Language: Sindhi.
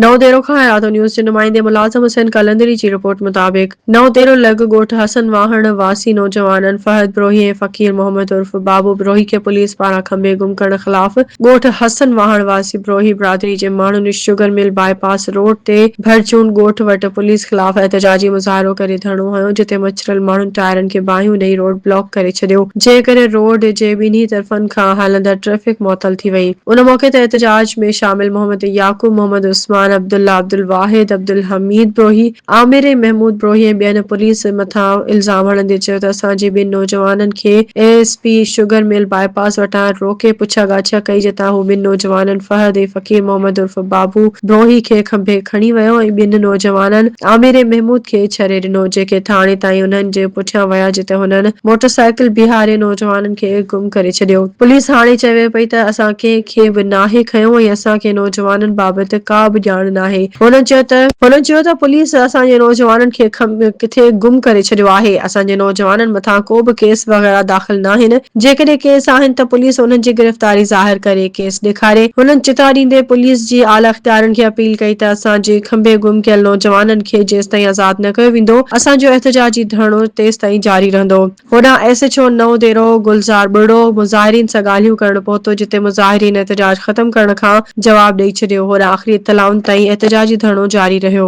نئون ديرو کان حياتو نيوز جي نمائندي ملازم حسين قلندري جي رپورٽ مطابق نئون ديرو لڳ ڳوٺ حسن واهڻ واسي نوجوانن فهد بروهي ۽ فقير محمد عرف بابو بروهي کي پوليس پاران کنڀي گم ڪرڻ خلاف ڳوٺ حسن واهڻ واسي بروهي برادري جي ماڻهن sugar mill bypass road تي ڀرجون ڳوٺ وٽ پوليس خلاف احتجاجي مظاهرو ڪري ڌرڻو هنيو جتي مچريل ماڻهن ٽائرن کي باهيون ڏئي روڊ بلاڪ ڪري ڇڏيو جنهن ڪري روڊ جي ٻنهي طرفن کان هلندڙ ٽريفڪ معطل ٿي وئي. ان موقعي تي احتجاج ۾ شامل محمد يعقوب، محمد عثمان، عبدالله عبدالواحد، عبدالحميد بروهي، عامر محمود بروهي ۽ ٻين پوليس مٿان الزام هڻندي چيو ته اسان جي ٻن نوجوانن کي A S P sugar mill bypass وٽان روڪي پڇا ڳاڇا ڪئي جتان هو ٻن نوجوانن فهد ۽ فقير محمد عرف بابو بروهي کي کنڀي کڻي ويو ۽ ٻن نوجوانن عامر محمود کي ڇري ڏنو جيڪي ٿاڻي تائين انهن جي پٺيان ويا جتي هنن موٽرسائيڪل بيهاري نوجوانن کي گم ڪري ڇڏيو. پوليس هاڻي چوي پئي ته اسان ڪنهن کي به ناهي کنيو ۽ اسان کي نوجوانن بابت ڪا به ڄاڻ ناهي. هن چيو ته. هن چيو ته پوليس اسان جي نوجوانن کي ڪٿي گم ڪري ڇڏيو آهي، اسان جي نوجوانن مٿان ڪو به ڪيس وغيره داخل ناهن، جيڪڏهن ڪيس آهن ته پوليس انهن جي گرفتاري ظاهر ڪري ڪيس ڏيکاري. هنن چتاء ڏيندي پوليس جي اعليٰ اختيارين کي اپيل ڪئي ته اسان جي کنڀي گم ڪيل نوجوانن کي جيستائين آزاد نه ڪيو ويندو، اسان جو احتجاجي ڌرڻو تيستائين جاري رهندو. هوڏانهن S H O Naudero گلزار ٻرڙو مظاهرين سان ڳالهيون ڪرڻ پهتو جتي مظاهرين احتجاج ختم ڪرڻ کان جواب ڏئي ڇڏيو هوڏانهن آخري اطلاعن تائين احتجاجي ڌرڻو جاري رهيو.